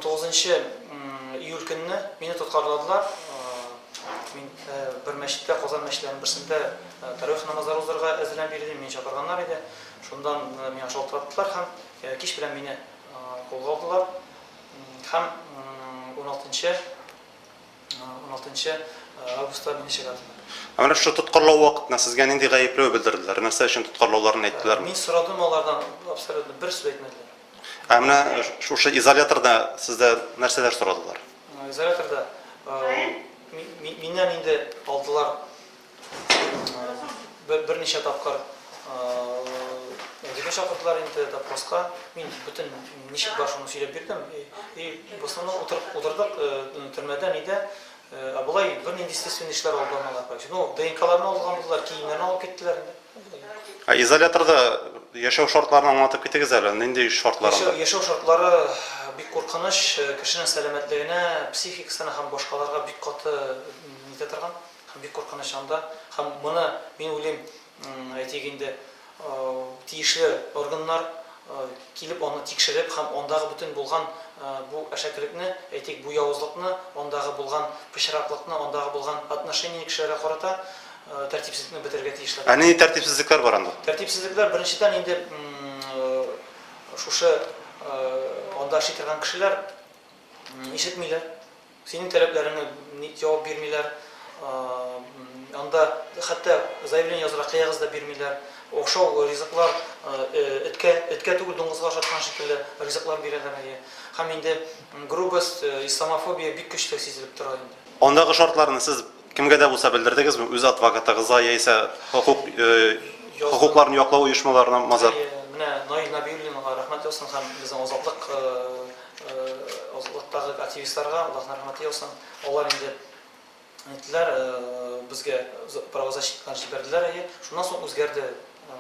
Тугызынчы июль көнне мине тоткарладылар. Мин бер мәчеттә, Казан мәчетләренең берсендә тәравих намазлары узарга әзерләнеп йөри идем, мине чакырганнар иде. Шуннан миңа шалтыраттылар һәм кич белән мине кулга алдылар һәм уналтынчы уналтынчы августта мине чыгардылар. Ә менә шушы тоткарлау вакытында сезгә нинди гаепләү белдерделәр? Нәрсә өчен тоткарлауларын әйттеләрме? Мин сорадым алардан, абсолютно бер сүз әйтмәделәр. Ә менә шушы изоляторда сездә нәрсәләр сорадылар? Изоляторда миннән инде алдылар берничә тапкыр Әдибе чакырдылар инде допроска. Мин бөтен ничек бар шуны сөйләп бирдем. И в основном утырып утырдык төрмәдә нидә. Ә болай бернинди естественный эшләр алып бармадылар. Ну, ДНКларны алган булдылар, киемнәрне алып киттеләр инде. Ә изоляторда яшәү шартларын аңлатып китегез әле, нинди шартлар анда? Яшәү, яшәү шартлары бик куркыныч, кешенең сәламәтлегенә, психикасына һәм башкаларга бик каты итә торган һәм бик куркыныч анда. Һәм моны, мин уйлыйм, әйтик инде, тиешле органнар, килеп аны тикшереп һәм андагы бөтен булган бу әшәкелекне, әйтик, бу явызлыкны, андагы булган пычраклыкны, андагы булган отношение кешеләргә карата тәртипсезлекне бетерергә тиешләр. Ә нинди тәртипсезлекләр бар анда? Тәртипсезлекләр, беренчедән, инде шушы анда эшли торган кешеләр ишетмиләр. Синең таләпләреңә ник җавап бирмиләр, анда хәтта заявление язырга кыягыз да бирмиләр. Охшау ризыклар, эткә, эткә түгел, дуңгызга ошаткан шикелле ризыклар бирәләр, әйе. Һәм инде грубость, исламофобия бик көчле сизелеп тора инде. Андагы шартларны сез кемгә дә булса белдердегезме, үз адвокатыгызга яисә хокук, хокукларны яклау оешмаларына мазар? Әйе, менә Наил Нәбиуллинга рәхмәт яусын һәм безнең Азатлык Озаклыктагы активистларга Аллаһның рәхмәте яусын. Алар инде әйттеләр, безгә правозащитникны җибәрделәр, әйе. Шуннан соң үзгәрде,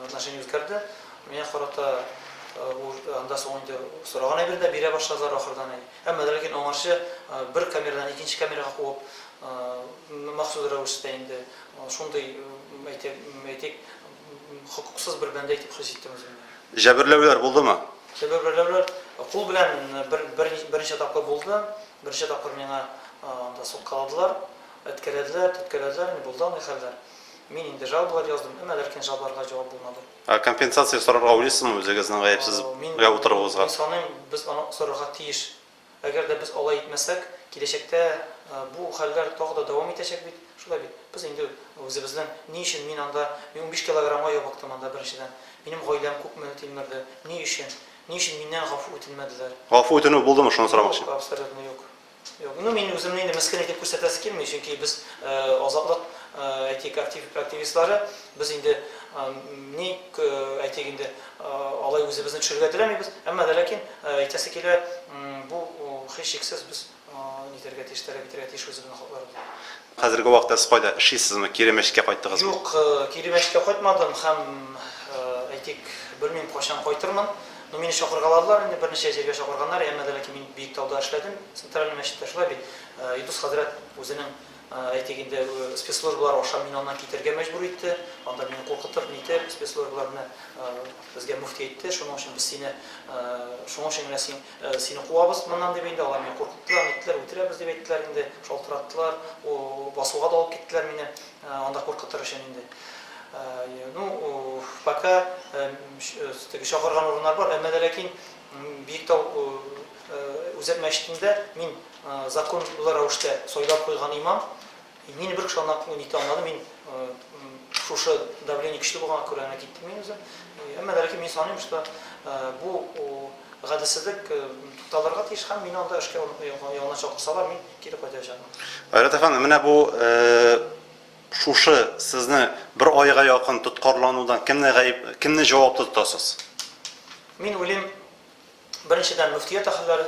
отношение үзгәрде. Миңа карата анда соң инде сораган әйберне дә бирә башладылар ахырдан. Әмма дә ләкин аңарчы бер камерадан икенче камерага куып, махсус рәвештә инде шундый, әйтик, Хокуксыз бер бәндә итеп хис иттем үземне. Җәберләүләр булдымы? Җәберләүләр кул белән бер бер берничә тапкыр булды. Берничә тапкыр миңа анда соткаладылар, әткәләделәр, төрткәләделәр, инде булды андый хәлләр. Мин инде жалобалар яздым, әмма ләкин жалобаларга җавап булмады. Ә компенсация сорарга уйлыйсызмы үзегезнең гаепсез гә утыруыгызга? Мин саныйм, без аны сорарга тиеш. Әгәр дә без алай итмәсәк, киләчәктә бу хәлләр тагы да дәвам итәчәк бит. Шулай бит? Без инде үзебезнең, Ни өчен мин анда, мин унбиш килограммга ябыктым анда, беренчедән. Минем гаиләм күпме тилмерде. Ни өчен? Ни өчен миннән гафу үтенмәделәр? Гафу үтенү булдымы, шуны сорамакчы. Юк, абсолютно юк. Юк. Ну, мин үземне инде мескен итеп күрсәтәсе килми, чөнки без, Азатлык, әйтик, активистлары, без инде, ни, әйтик инде, Алай үзебезне төшерергә теләмибез, әмма дә ләкин әйтәсе килә, бу һичшиксез без нитәргә тиеш, таләп итәргә тиеш үзебезнең хакларыбызны. Хәзерге вакытта сез кайда эшлисезме, кире Мәчеткә кайттыгызмы? Юк, кире Мәчеткә кайтмадым һәм, әйтик, белмим кайчан кайтырмын. Ну, мине чакыргаладылар инде, берничә җиргә чакырганнар, әмма дә ләкин мин Биектауда эшләдем, Центральный мәчеттә, шулай бит, Илдус хәзрәт үзенең. Әйтик инде, спецслужбалар аша мине аннан китәргә мәҗбүр итте. Анда мине куркытып, нитеп, спецслужбалар менә безгә мөфти әйтте, шуның өчен без сине, шуның өчен генә син, сине куабыз моннан дип инде, алар мине куркыттылар, ниттеләр, үтерәбез дип әйттеләр инде, шалтыраттылар, басуга да алып киттеләр мине, анда куркытыр өчен инде. Ну, пока теге чакырган урыннар бар, әмма дә ләкин Биектау Үзәк мәчетендә мин, законлы рәвештә сайлап куйган имам, мине бер кеше ана күңел итә алмады, мин шушы давление көчле булганга күрә генә киттем мин үзем. Әмма ләкин мин саныйм, что бу гаделсезлек тукталырга тиеш һәм мине анда эшкә янына чакырсалар, мин кире кайтачакмын. Айрат әфәнде, менә бу шушы сезне бер айга якын тоткарланудан кемне гаеп, кемне җаваплы тотасыз? Мин уйлыйм, беренчедән мөфтият әһелләре,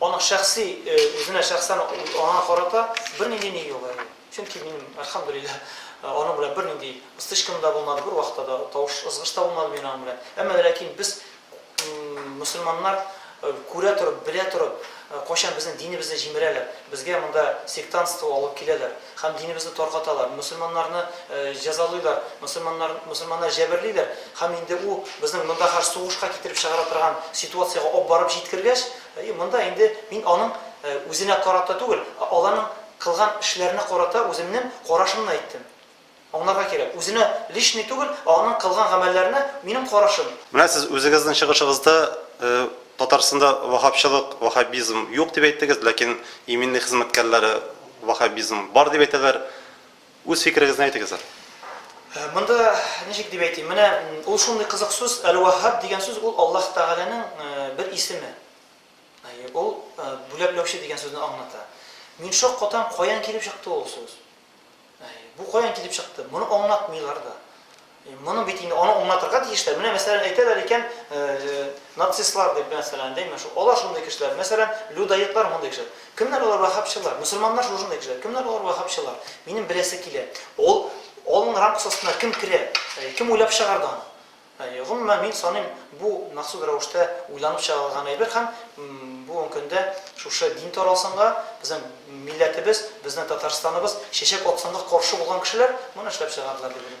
Аның шәхси, үзенә шәхсән аңа карата бернинди ни юк әле. Чөнки минем, әлхәмдүлилләһ, аның белән бернинди стычкам да булмады, бер вакытта да тавыш, ызгыш та булмады минем аның белән. Әмма вә ләкин без, мөселманнар, күрә торып, белә торып, кайчан безнең динебезне җимерәләр, безгә монда сектантство алып киләләр, Һәм динебезне таркаталар, мөселманнарны җәзалыйлар, мөселманнар, мөселманнар җәберлиләр. Һәм инде ул безнең монда хәзер сугышка китереп чыгара торган ситуациягә ап барып җиткергәч, и, монда инде мин аның үзенә карата түгел, ә аларның кылган эшләренә карата үземнең карашымны әйттем. Аңларга кирәк, үзенә личный түгел, ә аның кылган гамәлләренә минем карашым. Менә сез үзегезнең чыгышыгызда Татарстанда ваһһабчылык, ваһһабизм юк дип әйттегез, ләкин иминлек хезмәткәрләре ваһһабизм бар дип әйтәләр. Үз фикерегезне әйтегез әле. Монда ничек дип әйтим, менә ул шундый кызык сүз, әл-ваһһаб дигән сүз ул Аллаһ Тәгаләнең бер исеме. Ул бүләкләүче дигән сүзне аңлата. Мин шаккатам, каян килеп чыкты ул сүз? Бу каян килеп чыкты? Моны аңлатмыйлар да. Моны бит инде аны аңлатырга тиешләр. Менә мәсәлән әйтәләр икән, нацистлар дип мәсәлән, димме, шу алар шундый кешеләр. Мәсәлән, людаетлар мондый кешеләр. Кемнәр алар вахабчылар? Мусульманнар шушындый кешеләр. Кемнәр алар вахабчылар? Минем беләсе килә. Ул алның рамкасы астына кем керә? Кем уйлап чыгарды аны? Гомумән, мин саныйм, бу махсус рәвештә уйланып чыгарылган әйбер һәм бүген көндә шушы дин таралсынга, безнең милләтебез, безнең Татарстаныбыз чәчәк атсынга каршы булган кешеләр моны эшләп чыгардылар дип уйлыйм.